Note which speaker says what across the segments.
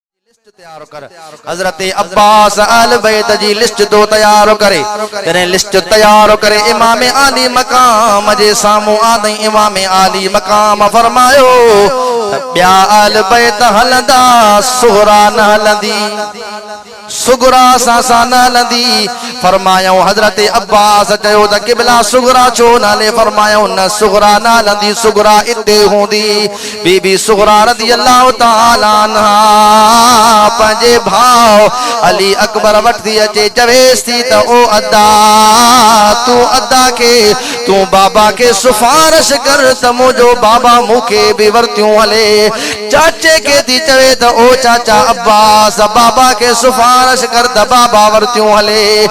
Speaker 1: جي لسٽ تيار ڪر حضرت عباس اهل بيت جي لسٽ ٿو تيار ڪري جڏهن لسٽ تيار ڪري امام عالي مقام جي سامهون آندئين امام عالي مقام فرمايو ته ٻيا اهل بيت هلندا صغرا نه هلندي صغرا اسان سان نه هلندي فرمايائون حضرت عباس چيو ته قبلا صغرا ڇو نه هلي فرمايائون نه صغرا نه هلندي صغرا اتي هوندي بي بي صغريٰ رضي الله تعالٰي عنها پنهنجي ڀاء علي اڪبر وٽ ٿي اچي چويس ٿي ته او ادا تون ادا کي تون بابا کي سفارش ڪر ته منهنجو بابا مون کي به ورتيون هلي چاچي کي ٿي چوي ته او چاچا عباس بابا کي سفارش ڪر ته بابا ورتيون هلي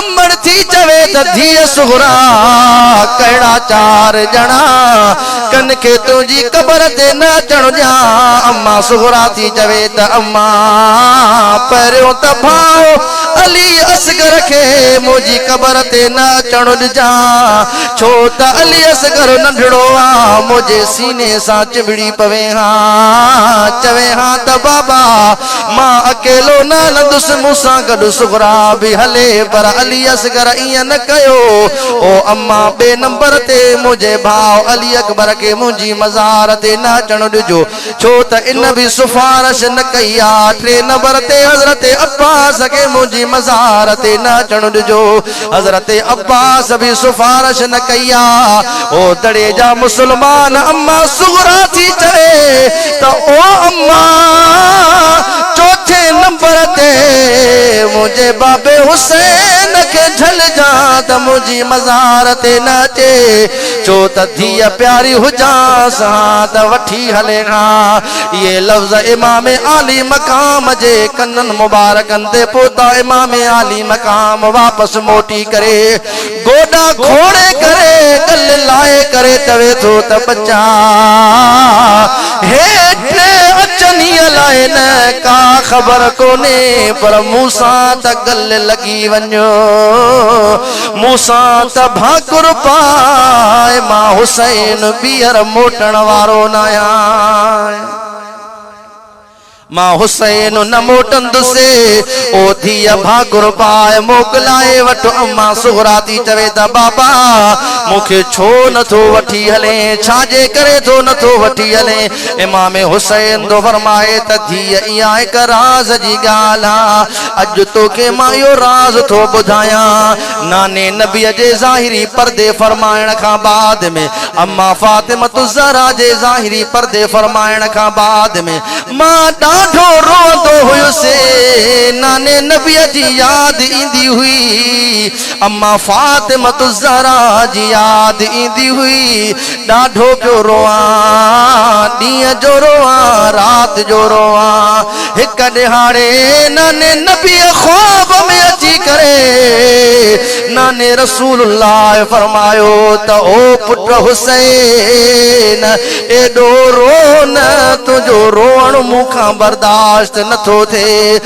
Speaker 1: امڙ ٿي چوي ته ڌيء صغرا ڪهڙا چار ڄڻا ڪن کي تنهنجي قبر تي نه اچڻ ڏيان اما صغرا ٿي چوي ته اما پهريون ته ڀاء علي اصغر کي منهنجي قبر تي نه اچڻ ڏجان ڇو ته علي اصغر ننڍڙو آ منهنجي سيني سان چنبڙي پوي ها چوي ها ته بابا مان اڪيلو نه هلندس، مون سان گڏ صغريٰ به هلي، پر علي اصغر ائين نه ڪيو. او اما! ٻئي نمبر تي منهنجي ڀاء علي اڪبر کي منهنجي مزار تي نه اچڻ ڏجو، ڇو ته ان به سفارش نه ڪئي آ. ٽئين نمبر تي حضرت عباس کي منهنجي مزار تي نه اچڻ ڏجو. حضرت عباس به سفارش نه ڪئي آ هو دڙي جا مسلمان اما صغرا ٿي چوي ته او اما چوٿين نمبر تي منهنجي بابي حسين کي جهلجان ته منهنجي مزار تي نه اچي چو ته ڌيء پياري هجانس ها ته وٺي هلي ها اهي لفظ امام عالي مقام جي ڪنن مبارڪن تي پهتا امام عالي ۽ مقام واپس موٽي ڪري گوڏا کوڙي ڪري ڳل لائي ڪري چوي ٿو ته ٻچا هي ٽي اچن هي لاء نه ڪا خبر ڪونهي پر مون سان ته ڳل لڳي وڃ مون سان ته ڀاڪر پاء مان حسين ٻيهر موٽڻ وارو ناهيان مان حسين نه موٽندسي، او ڌيء ڀاڳڻ باء موڪلائي وٺ. امان صغريٰ ٿي چوي ته بابا مون کي ڇو نه ٿو وٺي هلين؟ ڇا جي ڪري ٿو نه ٿو وٺي هلين؟ امام حسين ٿو فرمائي ته ڌيء اها هڪ راز جي ڳالهه آهي، اڄ توکي مان اهو راز ٿو ٻڌايان. ناني نبيء جي ظاهري پردي فرمائڻ کان بعد ۾ اما فاطمة الزهرا جي ظاهري پردي فرمائڻ کان بعد ۾ مان ڏاڍو روئندو هيس ناني نبيء جي ياد ايندي هئي اما فاطمة الزهرا جي ياد ايندي هئي ڏاڍو پيو روئان ڏينهن جو روئان رات جو روئان هڪ ڏهاڙي ناني نبي خواب ۾ اچي ڪري ناني رسول الله فرمايو ته او پٽ حسين ايڏو رو نه تنهنجو روئڻ مون کان برداشت نٿو ٿئي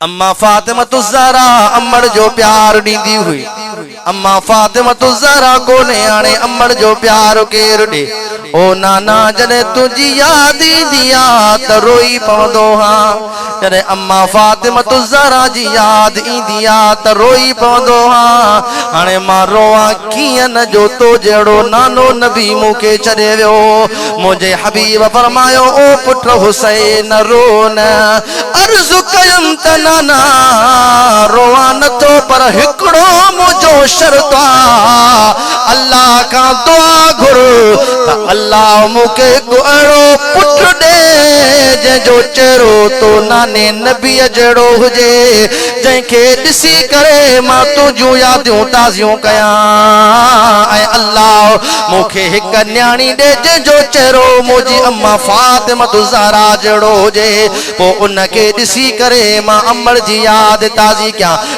Speaker 1: اما فاطمة الزهرا امڙ جو پيار ڏيندي هئي اما فاطمة الزهرا ڪو نياڻي امڙ جو پيار ڪير ڏي او نانا جڏهن تنهنجي ياد ايندي آ ته روئي پوندو هان جڏهن اما فاطمة الزهرا جي ياد ايندي ها ته روئي پوندو ها. هاڻي مان روئان ڪيئن نه جو تو جهڙو نانو نبي مون کي ڇڏي ويو. منهنجي حبيب فرمايو او پٽ حسين نه رو نه. عرض ڪيم ته نانا روئان نه ٿو پر هڪڙو منهنجو شرط آ. الله کان دعا گهر ته الله مون کي هڪ اهڙو پٽ ڏي جنهن جو چهرو تو ناني نبيء جهڙو هجي جنهن کي ڏسي ڪري مان تنهنجون يادون تازيون ڪيان ۽ الله مون کي هڪ نياڻي ڏي جنهن جو چهرو منهنجي اما فاطمة الزهرا جهڙو هجي پوء ان کي ڏسي ڪري مان امڙ جي ياد تازي ڪيان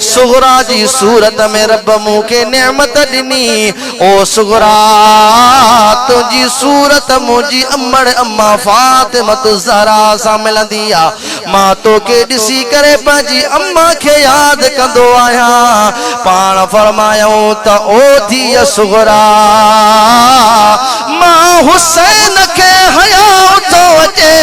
Speaker 1: صغريٰ جي صورت ۾ رب مون کي نعمت ڏني. او صغريٰ! تنهنجي صورت منهنجي امڙ امان فاطمة الزهراء سان ملندي آ. مان توکي ڏسي ڪري پنهنجي امان کي ياد ڪندو آهيان. پاڻ فرمايائون ته او ڌيء صغريٰ! مان حسين کي حيا اٿو اچي.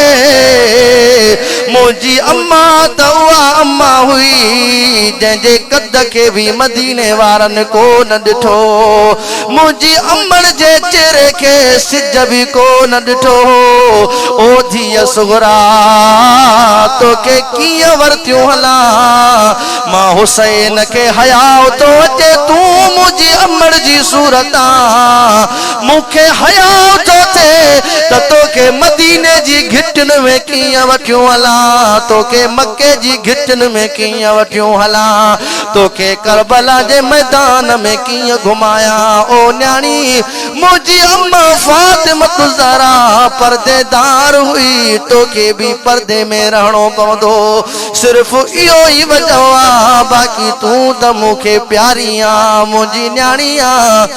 Speaker 1: منهنجي اما ته اها اما هئي جنهن جي قد کي به مديني وارن ڪو نه ڏٺو هو. منهنجي امڙ جي چهري کي سج به ڪو نه ڏٺو هو. او ڌيء صغريٰ! توکي ڪيئن ورتيون هلان؟ مان حسين کي حياء ٿو اچي تون منهنجي امڙ جي صورت آن مون کي حياء ٿو ٿئي ته توکي مديني جي گهٽين ۾ ڪيئن وٺيون هلان، توکي مڪي جي گهٽين ۾ ڪيئن وٺيون هلان، توکي ڪربلا جي ميدان ۾ ڪيئن گهمايان. او نياڻي! منهنجي اما فاطمة الزهراء پردي دار هئي، توکي به پردي ۾ رهڻو پوندو. صرف اهو ئي وجهه آهي، باقي تون ته مون کي پياري آهين، منهنجي نياڻي آهين.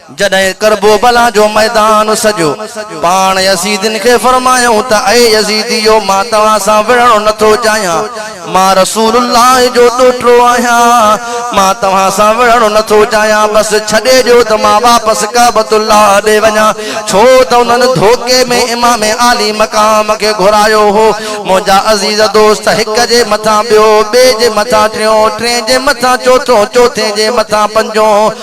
Speaker 1: جڏهن ڪربوبلا جو ميدان سڄو، پاڻ يزيدين کي فرمايائون ته اي يزيديو! مان توهان سان وڙهڻو نه ٿو چاهيان، مان رسول الله جو ڏوهٽڙو آهيان، مان توهان سان وڙهڻو نه ٿو چاهيان، بس ڇڏي ڏيو ته مان واپس ڪعبة الله ڏي وڃان، ڇو ته انهن ڌوڪي ۾ امام عالي مقام کي گهرايو هو، منهنجا عزيز دوست! هڪ جي مٿان ٻيو، ٻئي جي مٿان ٽيون، ٽئين جي مٿان چوٿون، چوٿين جي مٿان پنجون.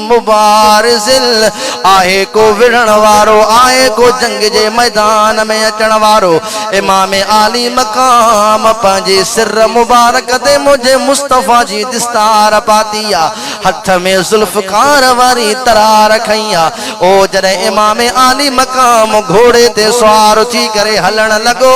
Speaker 1: مبارزل آهي ڪو وڙهڻ وارو آهي ڪو جنگ جي ميدان ۾ اچڻ وارو امام عالي مقام پنهنجي سر مبارڪ تي منهنجي مصطفيٰ جي دستار پاتي آ هٿ ۾ ذوالفقار واري ترار کنئي آ او جڏهن امام عالي مقام گهوڙي تي سوار ٿي ڪري هلڻ لڳو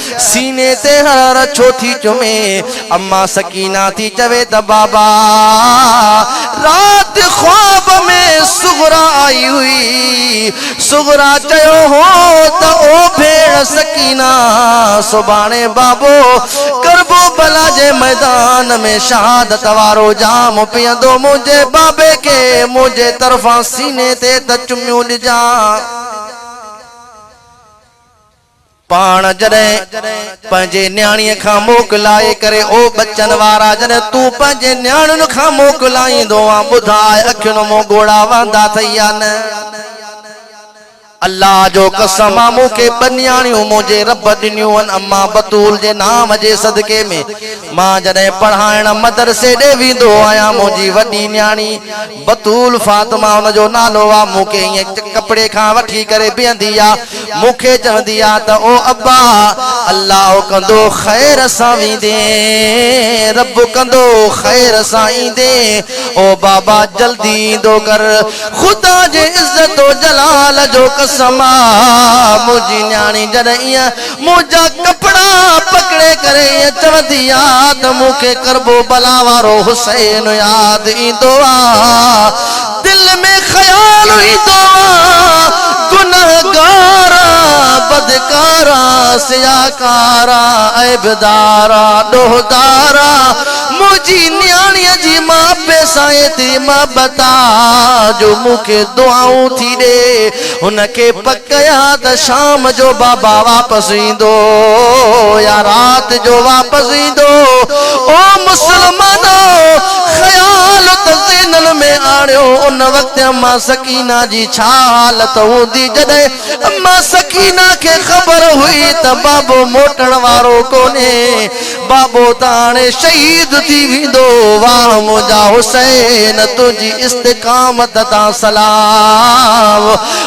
Speaker 1: سيني تي هرهر ڇو ٿي چمي. اما سڪينه ٿي چوي ته بابا رات خواب ۾ صغرا آئي هئي. صغرا چيو هو ته او ڀيڻ سڪينه سڀاڻي بابو ڪربو بلا جي ميدان ۾ شهادت وارو جام پيئندو منهنجي بابي کي منهنجي طرفان سيني تي ته چميون ڏجان. پاڻ جڏهن پنهنجي نياڻيء کان موڪ لائي ڪري او ٻچن وارا جڏهن تون پنهنجي نياڻين کان موڪ لائيندو آن ٻڌاء اکين مون ڳوڙها وهندا ٿئي يا نه الله جو قسم آ مون کي ٻه نياڻيون منهنجي رب ڏنيون هن اما بتول جي نام جي صدقي ۾ مان جڏهن پڙهائڻ مدرسي ڏي ويندو آهيان منهنجي وڏي نياڻي بتول فاطمه ان جو نالو آ، مون کي ائين ڪپڙي کان وٺي ڪري بيهندي آ، مون کي چوندي آ ته او ابا! الله ڪندو خير سان ويندين، رب ڪندو خير سان ايندين، او بابا جلدي ايندو ڪر، خدا جي عزت و جلال جو قسم آ منهنجي نياڻي جڏهن ائين منهنجا ڪپڙا پڪڙي ڪري ائين چوندي آ ته مون کي ڪربوبلا وارو حسين ياد ايندو آ. دل ۾ خيال ايندو آ، گنهگار آ، بدڪار آ، سياهڪار آ، عيبدار آ، ڏوهدار آ، منهنجي نياڻيء جي مان پي سان ايتري محبت آ جو مون کي دعائون ٿي ڏي. هن کي پڪ آ ته شام جو بابا واپس ايندو يا رات جو واپس ايندو. او مسلمانو! خيال ته ذهنن ۾ آڻيو ان وقت اما سڪينه جي ڇا حالت هوندي جڏهن اما سڪينه کي خبر هئي ته بابو موٽڻ وارو ڪونهي. بابو ته هاڻي شهيد ٿي ويندو. واهه منهنجا حسين تنهنجي استقامت تان سلام.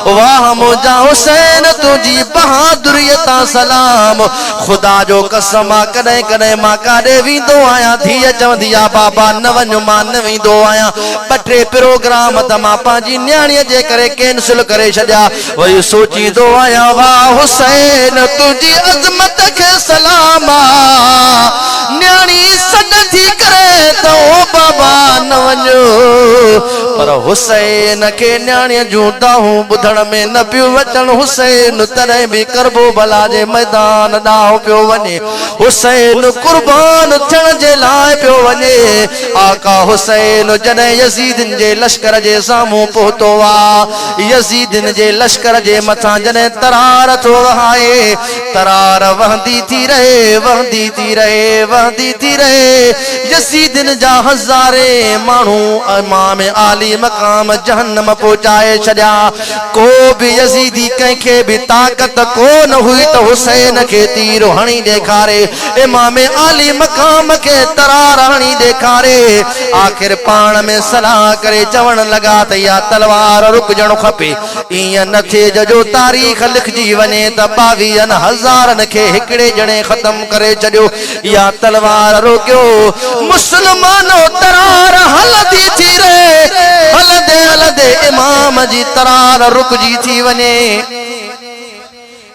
Speaker 1: واهه منهنجا حسين تنهنجي بهادري تان سلام. خدا جو قسم آ ڪڏهن ڪڏهن مان ڪاڏي ويندو آهيان ڌيء چوندي آ بابا نه وڃ مان نه ويندو آهيان ٻه ٽي پروگرام ته مان پنهنجي نياڻيء جي ڪري ڪينسل ڪري ڇڏيا. وري سوچيندو آهيان واه حسين تنهنجي عظمت کي سلام آ نياڻي سڏ ٿي ڪري ته او بابا نه وڃ پر حسين کي نياڻي جون دانهون ٻڌڻ ۾ نه پيون اچن حسين تڏهن به ڪربو بلا جي ميدان ڏانهن پيو وڃي حسين قربان ٿيڻ جي لاء پيو وڃي آقا حسين جڏهن يزيدين جي لشڪر جي سامهون پهتو آ يزيدين جي لشڪر جي مٿان جڏهن ترار ٿو وهائي، ترار وهندي ٿي رهي، وهندي ٿي رهي، وهندي ٿي رهي، يزيدين جا هزارين ماڻهو امام عالي مقام جهنم پهچائي ڇڏيا، ڪو به يزيدي ڪنهن کي به طاقت ڪو نه هئي ته حسين کي تير هڻي ڏيکاري، امام عالي مقام کي ترار هڻي ڏيکاري. آخر پاڻ ۾ صلاح ڪري چوڻ لڳا ته اها تلوار رڪجڻ کپي. ائين نه ٿئي ته جو تاريخ لکجي وڃي ته ٻاويهن هزارن کي هڪڙي ڄڻي ختم ڪري ڇڏيو. اها تلوار روڪيو. مسلمانو! ترار هلندي ٿي رهي. هلندي هلندي امام جي ترار رڪجي ٿي وڃي.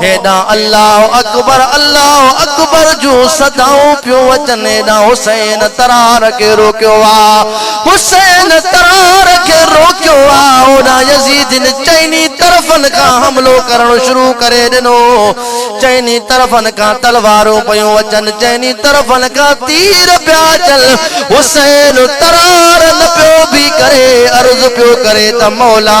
Speaker 1: هيڏانهن الله اڪبر الله اڪبر جون صدائون پيون اچن هيڏانهن حسين ترار کي روڪيو آ حسين ترار کي روڪيو آ هوڏانهن يزيدين چئني طرفن کان حملو ڪرڻ شروع ڪري ڏنو چئني طرفن کان تلوارون پيون اچن چئني طرفن کان تير پيا اچن حسين ترار نه پيو بي ڪري عرض پيو ڪري ته مولا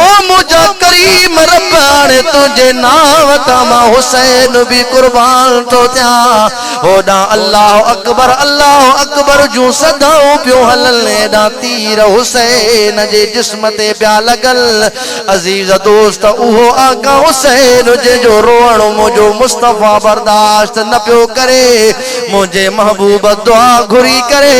Speaker 1: او منهنجا ڪريم رب هاڻي تنهنجي نانء تان مان حسين به قربان ٿو ٿيان. هوڏانهن الله اڪبر الله اڪبر جون صدائون پيون هلن هيڏانهن تير حسين جي جسم تي پيا لڳن. عزيز دوست اهو آقا حسين جنهن جو روئڻ منهنجو مصطفيٰ برداشت نه پيو ڪري. منهنجي محبوب دعا گهري ڪري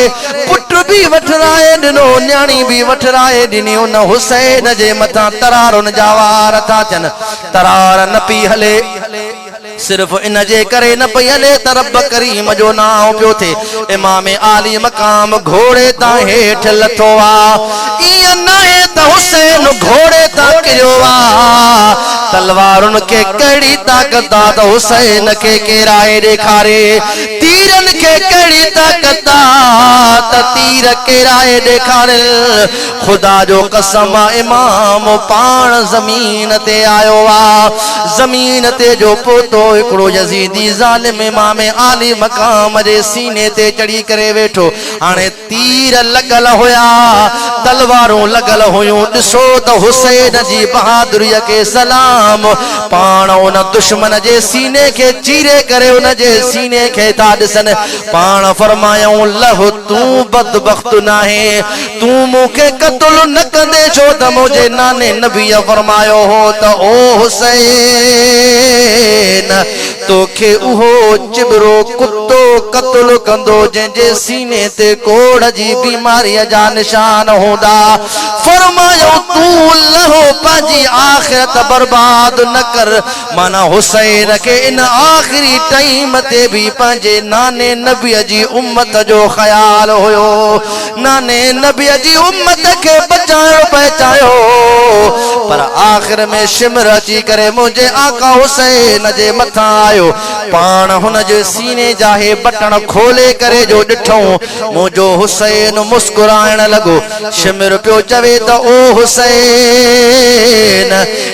Speaker 1: پٽ به وٺرائي ڏنو نياڻي به وٺرائي ڏني ان حسين جي مٿان ترارن جا وار ٿا ٿين ترار نه پئي هلي صرف ان جي ڪري نه پئي هلي ته رب ڪريم جو نانء پيو ٿئي امام عالي مقام گهوڙي تان هيٺ لٿو آ. ايئن ناهي ته حسين گهوڙي تان ڪريو آ، تلوارن کي ڪهڙي طاقت آ ته حسين کي ڪيرائي ڏيکاري، تيرن کي ڪهڙي طاقت آ ته تير ڪيرائي ڏيکارين. خدا جو قسم آ امام پاڻ زمين تي آيو آ، زمين تي جو پهتو هڪڙو يزيدي ظالم امام عالي مقام جي سيني تي چڙهي ڪري ويٺو. هاڻي تير لڳل هيا، تلوارون لڳل هيون، ڏسو ته حسين جي بهادريء کي سلام! پاڻ ان دشمن جي سيني کي چيري ڪري ان جي سيني کي ٿا ڏسن. پاڻ فرمايائون، لئه! تون بدبخت ناهين، تون مون کي قتل نه ڪندين، ڇو ته منهنجي ناني نبيء فرمايو هو ته او حسين! توکي اهو چٻرو ڪتو قتل ڪندو جنهن جي سيني تي ڪوڙهه جي بيماريء جا نشان هوندا. فرمايائون، تون لهو پنهنجي آخرت برباد نه ڪر. معنيٰ حسين کي ان آخري ٽائيم تي به پنهنجي ناني نبيء جي امت جو خيال هيو. ناني نبيء جي امت کي بچايو پئي چاهيو، پر آخر ۾ شمر اچي ڪري منهنجي آقا حسين جي مٿان آيو. پاڻ هن جي سيني جا هي بٽڻ کولي ڪري جو ڏٺئون، منهنجو حسين مسڪرائڻ لڳو. شمر پيو چوي ته او حسين!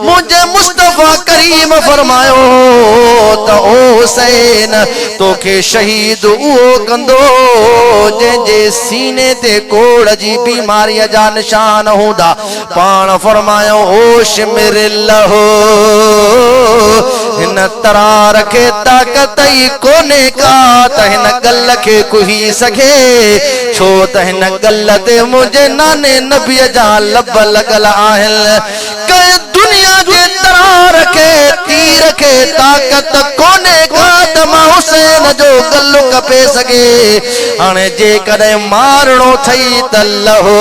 Speaker 1: منهنجي مصطفيٰ ڪريم فرمايو هو ته او حسين! توکي شهيد اهو ڪندو جنهن جي سيني تي ڪوڙهه جي بيماريء جا نشان هوندا. پاڻ فرمايائون هو شمر الله! هن ترار کي طاقت ئي ڪونهي ڪا ته هن گل کي ڪهي سگهي، ڇو ته هن گل تي منهنجي ناني نبيء جا لب لڳل آهن. ڪنهن دنيا جي ترار کي تير کي طاقت ڪونهي ڪا ته مان حسين جو ڳل ڪپي سگهي هاڻي جيڪڏهن مارڻو ٿئي ته لهو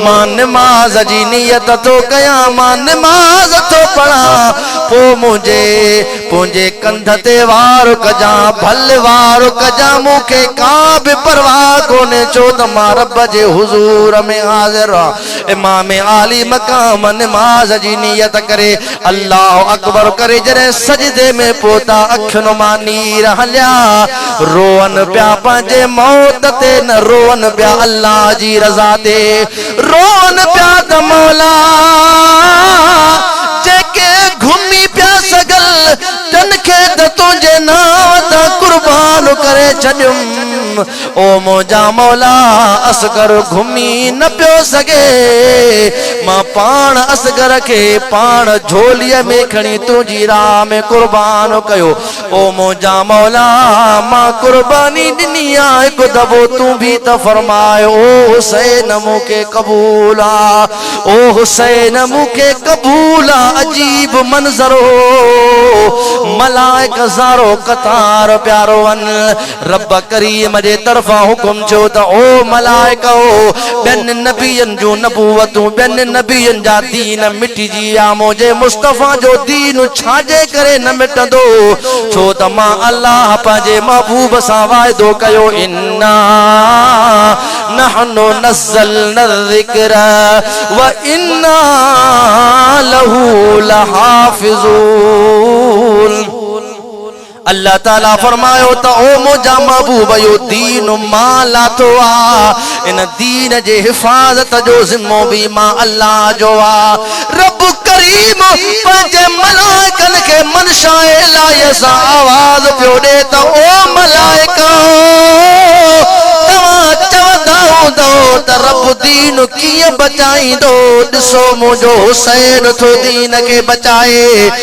Speaker 1: مان نماز جي نيت ٿو ڪيان مان نماز ٿو پڙهان پو منهنجي پنهنجي ڪنڌ تي وار ڪجان ڀل وار ڪجان مون کي ڪا به پرواهه ڪونهي ڇو ته مان رب جي حضور ۾ حاضر آهيان امام عالي مقام نماز جي نيت ڪري الله اڪبر ڪري جڏهن سجدي ۾ پهتا اکين مان نير هليا روئن پيا پنهنجي موت تي نه روئن پيا الله جي رضا تي روئن پيا ته مولا جيڪي گهمي پيا سگل تن کي ته تنهنجي نانء تان قربان ڪري ڇڏيم او منهنجا مولا اصغر گهمي نه پيو سگهي مان پاڻ اصغر کي پاڻ جھولي ۾ کڻي تنهنجي راھ ۾ قربان ڪيو او منهنجا مولا مان قرباني ڏني آ هڪ دفعو تون به ته فرماء او حسين مون کي قبول آ او حسين مون کي قبول آ عجيب منظر هو ملائڪ هزارو قطار پيا روئن رب ڪريم جي طرفان حڪم ٿيو ته او ملائڪؤ! ٻين نبين جون نبوتون، ٻين نبين جا دين مٽجي ويا، منهنجي مصطفيٰ جو دين ڇاجي ڪري نه مٽندو؟ ڇو ته مان الله پنهنجي محبوب سان واعدو ڪيو، انا نحن نزلنا الذڪر وانا له لحافظون. الله تعالي فرمايو ته او منهنجا محبوب اهو دين مان لاٿو آهي، ان دين جي حفاظت جو ذمو به مان الله جو آهي. رب ڪريم پنهنجي ملائڪن کي منشاء الاهيء سان آواز پيو ڏئي ته او ملائڪو! توهان چوندا هوندؤ ته رب دين ڪيئن بچائيندو، ڏسو منهنجو حسين ٿو دين کي بچائي.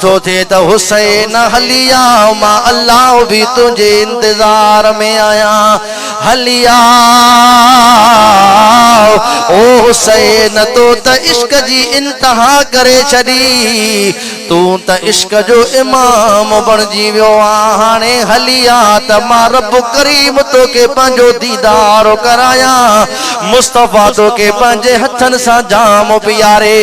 Speaker 1: ٿو ٿئي ته حسين هلي آء مان الله به تنهنجي انتظار ۾ آهيان هلي آء او حسين تو ته عشق جي انتها ڪري ڇڏي تون ته عشق جو امام بڻجي ويو آهين هاڻي هلي آء ته مان رب ڪريم توکي پنهنجو ديدار ڪرايان مصطفيٰ توکي پنهنجي هٿن سان جام پياري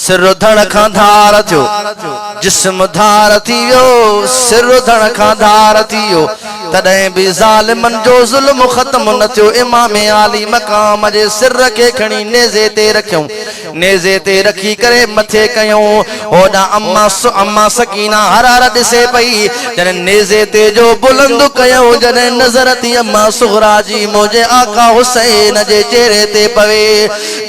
Speaker 1: سر اڌڻ کان ڌار ٿيو، جسم ڌار ٿي ويو، سر اڌڻ کان ڌار ٿي ويو، تڏهن به ظالمن جو ظلم ختم نه ٿيو، امام عالي مقام جي سر کي کڻي نيزي تي رکيائون، نيزي تي رکي ڪري مٿي ڪيائون، هوڏانهن اما سڪينه هر هر ڏسي پئي، جڏهن نيزي تي جو بلند ڪيائون، جڏهن نظر ٿي اما صغريٰ جي منهنجي آقا حسين جي چهري تي پوي.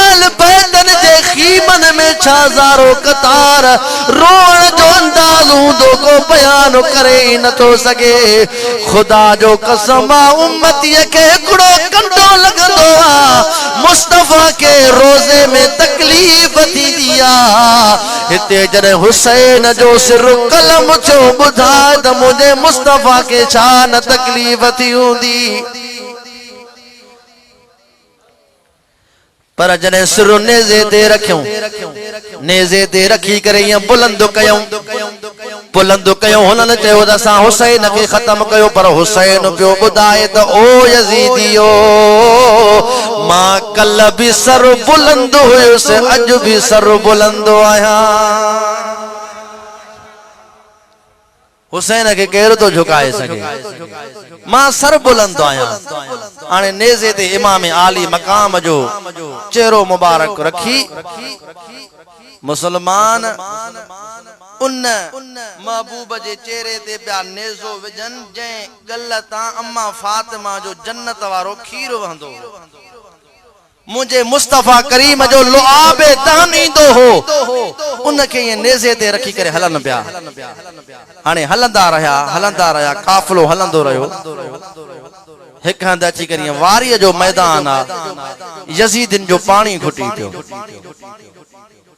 Speaker 1: اهل بيتن جي خيمن ۾ ڇا زارو قطار روئڻ جو انداز هوندو ڪو بيان ڪري ئي نٿو سگهي. خدا جو قسم آ امتيء کي هڪڙو ڪنڊو لڳندو آ مصطفيٰ کي روزي ۾ تڪليف ٿيندي آ هتي جڏهن حسين جو سر قلم ٿيو ٻڌاء ته منهنجي مصطفيٰ کي ڇا نه تڪليف ٿي هوندي. پر جڏهن سر نيزي تي رکيون، نيزي تي رکي ڪري ائين بلند ڪيون، بلند ڪيون، هنن چيو ته اسان حسين کي ختم ڪيو، پر حسين پيو ٻڌائي ته او يزيديو! مان ڪلهه به سر بلند هيس، اڄ به سر بلند آهيان. حسين کي ڪير ٿو جهڪائي سگهي. مان سربلند ٿو آهيان. هاڻي نيزي تي امام عالي مقام جو چهرو مبارڪ رکي، مسلمان ان محبوب جي چهري تي پيا نيزو وجهن، جنهن ڳل تان اما فاطمه جو جنت وارو کير وهندو هو. منهنجي مصطفيٰ ڪريم جو لعاب دهن ايندو هو، ان کي ائين نيزي تي رکي ڪري هلن پيا. هاڻي هلندا رهيا، هلندا رهيا، قافلو هلندو رهيو. هڪ هنڌ اچي ڪري ائين واريء جو ميدان آ، يزيدين جو پاڻي گهٽي پيو.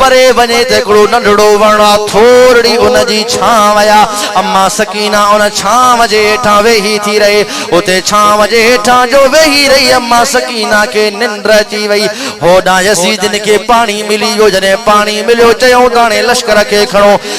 Speaker 1: پري وڃي ته هڪڙو ننڍڙو وڻ آ، ٿورڙي ان جي ڇانو آ. اما سڪينه ان ڇانو جي هيٺان ويهي ٿي رهي. اتي ڇانو جي هيٺان جو ويهي رهي، اما سڪينه کي ننڊ اچي وئي. هوڏانهن يزيدين کي پاڻي ملي ويو. جڏهن پاڻي مليو، چيائون ته هاڻي لشڪر کي کڻو.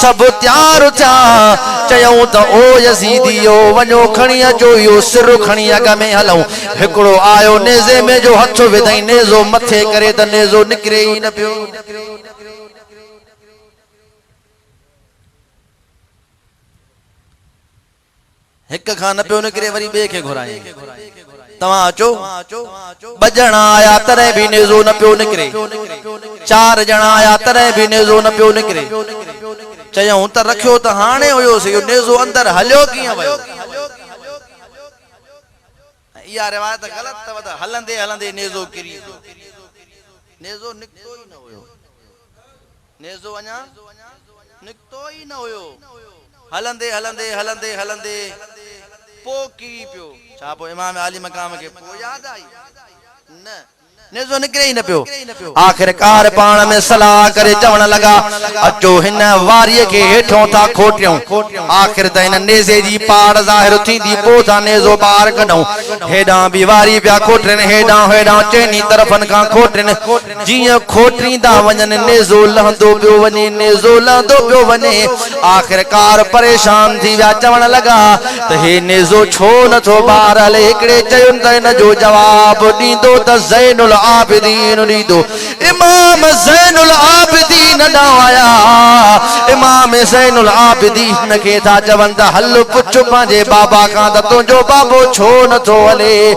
Speaker 1: سڀ تيار ٿيا، چيائون ته او يزيديو! وڃو کڻي اچو اهو سر کڻي اڳ ۾ هلون. هڪڙو آيو، نيزي ۾ جو هٿ وڌائين، نيزو مٿي ڪري ته نيزو نڪري ئي نه پيو. هڪ کان نه پيو نڪري وري ٻئي کي گهرايائين توهان اچو. ٻه ڄڻا آيا تڏهن به نيزو نه پيو نڪري. چار ڄڻا آيا تڏهن به نيزو نه پيو نڪري. چيائون ته رکيو ته هاڻي هيوس اهو نيزو اندر هليو ڪيئن ويو. ۽ اها روايت غلط اٿو ته هلندي هلندي نيزو ڪري ويو. نيزو نڪتو ئي نه هيو. نيزو اڃا نڪتو ئي نه هيو. هلندي هلندي هلندي هلندي پوء ڪري پيو. ڇا پوء امام عالي مقام کي پوء ياد آئي؟ نه. نيزو نڪري ئي نه پيو. آخرڪار پاڻ ۾ صلاح ڪري چوڻ لڳا، اچو هن واريء کي هيٺيون ٿا کوٽيون. آخر ته هن نيزي جي پاڙ ظاهر ٿيندي پوء ٿا نيزو ٻاهر ڪڍون. هيڏانهن به واري پيا کوٽين، هيڏانهن هوڏانهن چئني طرفن کان کوٽين. جيئن کوٽيندا وڃن نيزو لهندو پيو وڃي، نيزو لهندو پيو وڃي. آخرڪار پريشان ٿي ويا چوڻ لڳا ته هي نيزو ڇو نه ٿو ٻارهل هڪڙي چيون ته ان جو جواب ڏيندو ته زين العابدين ڏيندو امام زين العابدين ڏانهن آيا امام زين العابدين کي ٿا چون ته هل پڇ پنهنجي بابا کان ته تنهنجو بابو ڇو نه ٿو هلي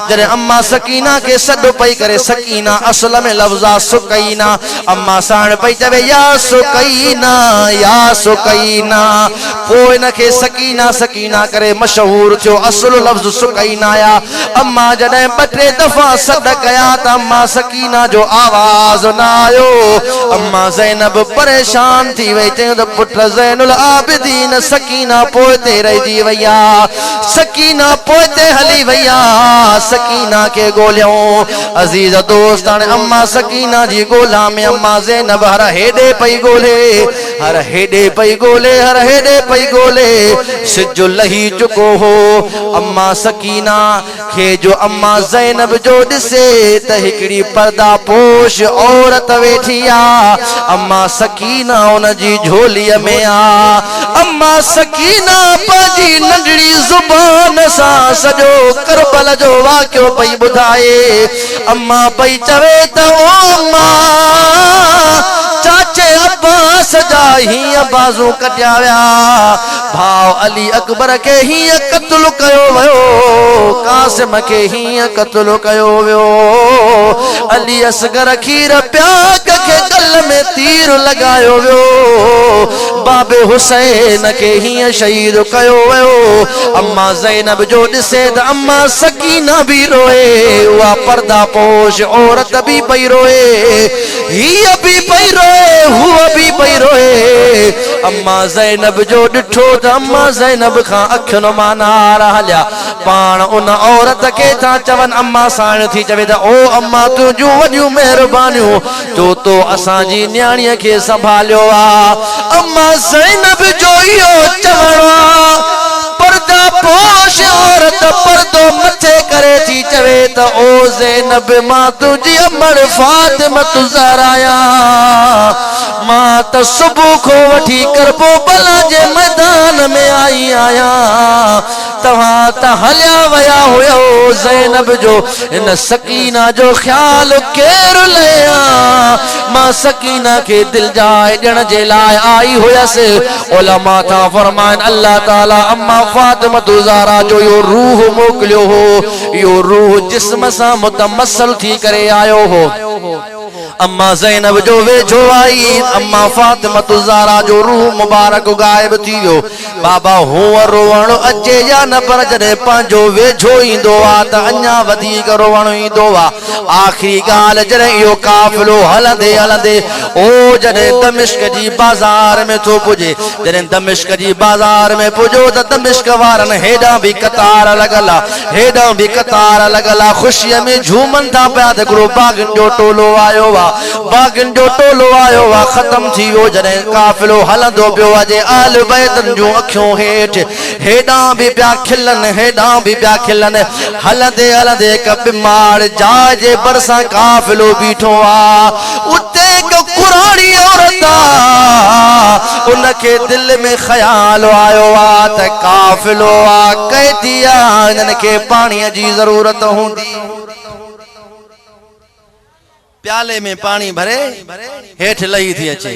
Speaker 1: جڏهن اما سڪينه کي سڏ پئي ڪري سڪينه اصل ۾ لفظ آ سڪينه اما ساڻ پئي چوي يا سڪينه يا سڪينه پوء ان کي سڪينه سڪينه ڪري مشهور ٿيو اصل لفظ سڪينه آ اما جڏهن ٻه ٽي دفعا سڏ ڪيا ته اما سڪينه جو آواز نه آيو اما زينب پريشان ٿي وئي چيون ته پٽ زين العابدين سڪينه پوئتي رهجي وئي آ. سڪينه پوئتي هلي وئي آ، سڪينه کي ڳوليائون. عزيز دوست هاڻي اما سڪينه جي ڳولا ۾ اما زينب هر هيڏي پئي ڳولي، هر هيڏي پئي ڳولي، هر هيڏي پئي ڳولي. سج لهي چڪو هو. اما سڪينه. کي جو اما زينب جو ڏسي ته هڪڙي پرده پوش عورت ويٺي آ. اما سڪينه ان جي جهولي ۾ آ. اما سڪينه پنهنجي ننڍڙي زبان سان سڄو ڪربل جو واقعو پئي ٻڌائي. اما پئي چوي ته او اما! چاچي عباس جا هيئن بازو ڪٽيا ويا. ڀاء علي اڪبر کي هيئن قتل ڪيو ويو، قاسم کي هيئن قتل ڪيو ويو، علي اصغر کير پياڪ کي ڳل ۾ تير لڳايو ويو، بابي حسين کي هيئن شهيد ڪيو ويو، اما زينب جو ڏسي ته اما سڪينه به روئي، اها پرده پوش عورت به پئي روئي، هيء به پئي روئي، هوء به پئي روئي. اما زينب جو ڏٺو ته اما زينب کان اکين مان نار هليا. پاڻ ان عورت کي ٿا چون اما ساڻ ٿي چوي ته او اما تنهنجون وڏيون مهربانيون جو تو اسان جي نياڻيء کي سنڀاليو آ. اما زينب جو اهو چوڻ آ. پردا پوش عورت پردو مٿي ڪري ٿي چوي ته او زينب مان تنهنجي امڙ فاطمة الزهرا آهيان. مان ته صبح کان وٺي ڪربوبلا جي ميدان ۾ آئي آهيان، توهان ته هليا ويا هيو، زينب جو هن سڪينه جو خيال ڪير لهي ها، مان سڪينه کي دل جاء ڏيڻ جي لاء آئي هيس، علماء ٿا فرمائن الله تعاليٰ اما فاطمة الزهراء جو اهو روح موڪليو هو، اهو روح جسم سان متمثل ٿي ڪري آيو هو. اما زينب جو ويجهو آئي، اما فاطمة الزهراء جو روح مبارڪ غائب ٿي ويو. بابا هونئن روئڻ اچي يا نه پر جڏهن پنهنجو ويجهو ايندو ها ته اڃا وڌيڪ روئڻ ايندو ها. آخري ڳالهه جڏهن اهو قافلو هلندي هلندي او جڏهن دمشق جي بازار ۾ ٿو پڄي. جڏهن دمشق جي بازار ۾ پڄو ته دمشق وارن هيڏانهن به قطار لڳل ها. هيڏانهن به قطار لڳل آ، خوشيء ۾ جهومن ٿا پيا ته هڪڙو باغين جو ٽولو آيو آ. باغين جو ٽولو آيو آ ختم ٿي ويو، جڏهن قافلو هلندو پيو اچي، اهل بيتن جون اکيون هيٺ، هيڏانهن به پيا کلن، هيڏانهن به پيا کلن. هلندي هلندي هڪ ٻمار جاء جي ڀرسان قافلو بيٺو آ. اتي هڪ ڪراڙي عورت آ، ان کي دل ۾ خيال آيو آ ته قافلو آ، قيدي آ، هنن کي پاڻيء جي ضرورت هوندي. پيالي ۾ پاڻي ڀري هيٺ لهي ٿي اچي.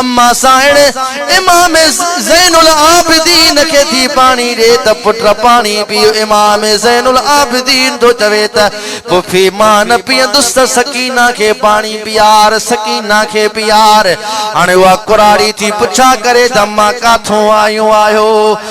Speaker 1: اما سائڻ امام زين العابدين کي ٿي پاڻي ڏي ته پٽ پاڻي پي. امام زين العابدين ٿو چوي ته پڦي مان نه پيئندس ته سڪينه کي پاڻي پيار، سڪينه کي پيار. هاڻي اها ڪراڙي ٿي پڇا ڪري ته اما ڪاٿون آيون آهيو؟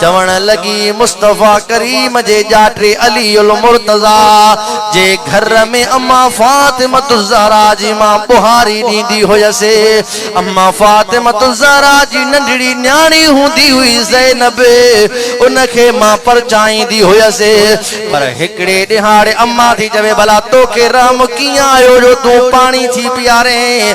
Speaker 1: چوڻ لڳي، مصطفيٰ ڪريم جي ڄاٽي علي المرتضيٰ جي گهر ۾ اما فاطمة الزهراء جي مان ٻهاري ڏيندي هيس. اما فاطمة الزهراء جي ننڍڙي نياڻي هوندي هئي زينب، ان کي مان پرچائيندي هيس. پر هڪڙي ڏهاڙي اما ٿي چوي، ڀلا توکي رحم ڪيئن آيو جو تون پاڻي ٿي پيارين؟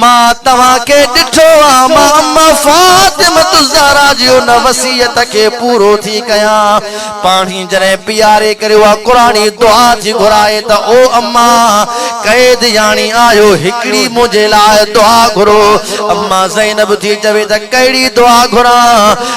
Speaker 1: مان توهان کي ڏٺو آ مان ام فاطمة الزهرا جي ان وصيت کي پورو ٿي ڪيان پاڻهي جڏهن پياري ڪري اها قرآني دعا ٿي گهرائي ته او اما قيد ياڻي آهيو هڪڙي منهنجي لاء دعا گهرو اما زينب ٿي چوي ته ڪهڙي دعا گهران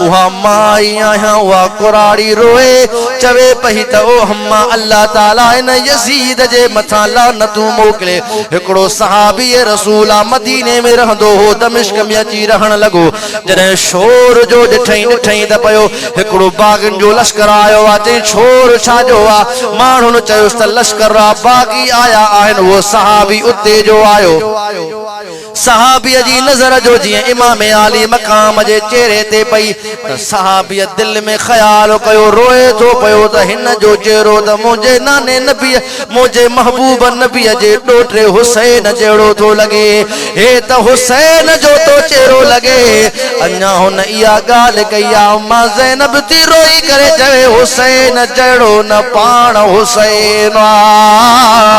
Speaker 1: اها مان ئي آهيان اها ڪراڙي روئي چوي پئي ته او اما الله تعالي ان يزيد جي مٿان لعنتون موڪلي هڪڙو صحابي رسول آ مديني ۾ رهندو هو دمشق ۾ اچي رهڻ لڳو جڏهن شور جو ڏٺئين ڏٺئين ته پيو هڪڙو باغين جو لشڪر آيو آ چئين شور ڇا جو آ ماڻهن چيس ته لشڪر را باغي آيا آهن اهو صحابي اتي جو آيو صحابيء جي نظر جو جيئن امام عالي مقام جي چهري تي پئي ته صحابيء دل ۾ خيال ڪيو، روئي ٿو پيو ته هن جو چهرو ته منهنجي ناني نبيء، منهنجي محبوب نبيء جي ڏوهٽي حسين جهڙو ٿو لڳي. هي ته حسين جو ٿو چهرو لڳي. اڃا هن اها ڳالهه ڪئي آ، اما زينب ٿي روئي ڪري چوي، حسين جهڙو نه پاڻ حسين آ.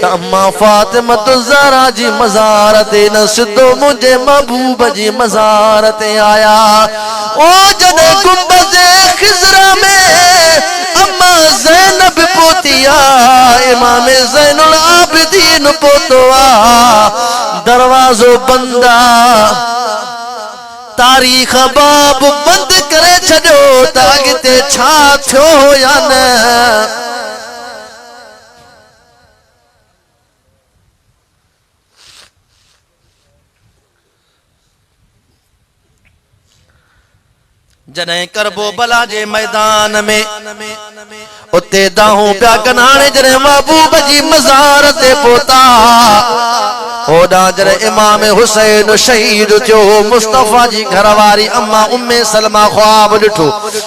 Speaker 1: ته اما فاطمة الزهرا جي مزار تي نه سڌو منهنجي محبوب جي مزار تي آيا او جڏهن گنبذ خضرا ۾ اما زينب پهتي آ امام زين العابدين پهتو آ دروازو بند آ تاريخ باب بند ڪري ڇڏيو ته اڳتي ڇا ٿيو هو يا نه. جڏهن کربو بلا جي ميدان ۾ اتي داهون پيا ڪن هاڻي جڏهن محبوب جي مزار تي پهتا هوڏا جڏهن امام حسين شهيد ٿيو مصطفيٰ جي گهر واري اما امي سلمه خواب ڏٺو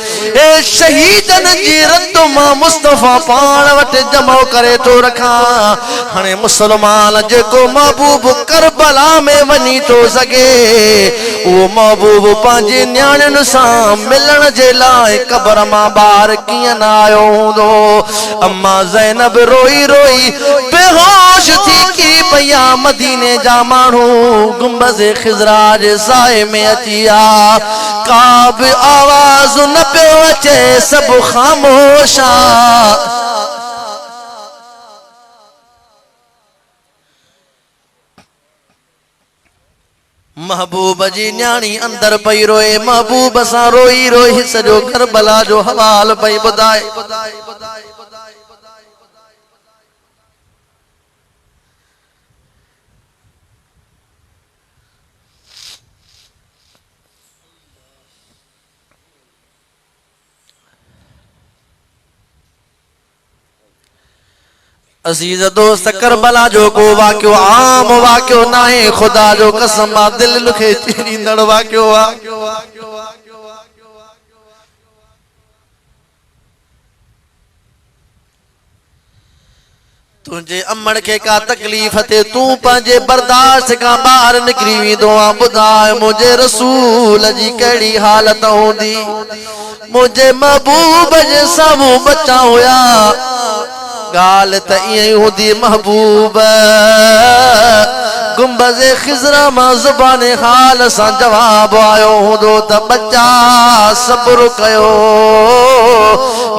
Speaker 1: اي شهيدن جي رت مان مصطفيٰ پاڻ وٽ جمع ڪري ٿو رکان هاڻي مسلمان جيڪو محبوب ڪربلا ۾ وڃي ٿو سگهي اهو محبوب پنهنجي نياڻين سان ملڻ جي لاء قبر مان ٻاهر ڪيئن نه آيو هوندو اما زينب روئي روئي بيهوش ٿي ڪي پئي آ مديني جا ماڻهو گنبذ خضرا جي سائي ۾ اچي آ ڪا به آواز نه پيو اچي سڀ خاموش آ. محبوب جي نياڻي اندر پئي روئي محبوب سان روئي روئي سڄو ڪربلا جو حوال پئي ٻڌائي. عزيز دوست کربلا جو ڪو واقعو عام واقعو ناهي خدا جو قسم مان دل لکي چيريندڙ واقعو آهي تنهنجي امڙ کي ڪا تڪليف ٿئي، تون پنهنجي برداشت کان ٻاهر نڪري ويندو آهين. ٻڌاء منهنجي رسول جي ڪهڙي حالت هوندي؟ منهنجي محبوب جي سامهون ٻچا هيا. ڳالهه ته ائين ئي هوندي محبوب گنبذ خضرا مان زبان حال سان جواب آيو هوندو ته ٻچا صبر ڪيو.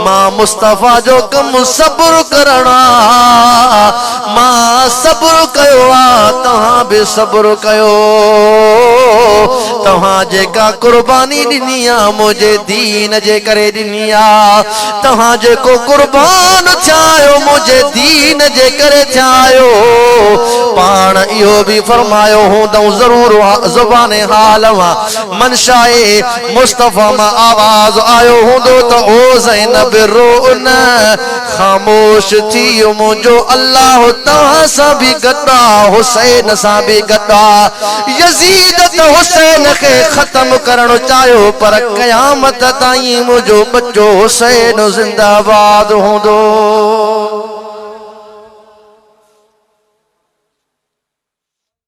Speaker 1: مان مصطفيٰ جو ڪم صبر ڪرڻ آ مان صبر ڪيو آ توهان به صبر ڪيو توهان جيڪا قرباني ڏني آ منهنجي دين جي ڪري ڏني آ توهان جيڪو قربان ٿيا آهيو منهنجي دين جي ڪري ٿيا آهيو پاڻ اهو به فرمايو هوندئون ضرور زبان حال مان منشاء مصطفيٰ مان آواز آيو هوندو ته او زينب رو نه، خاموش ٿي منهنجو الله توهان سان به گڏ آ، حسين سان به گڏ آ. يزيد ته حسين کي ختم ڪرڻ چاهيو پر قيامت تائين منهنجو ٻچو حسين زنده آباد هوندو.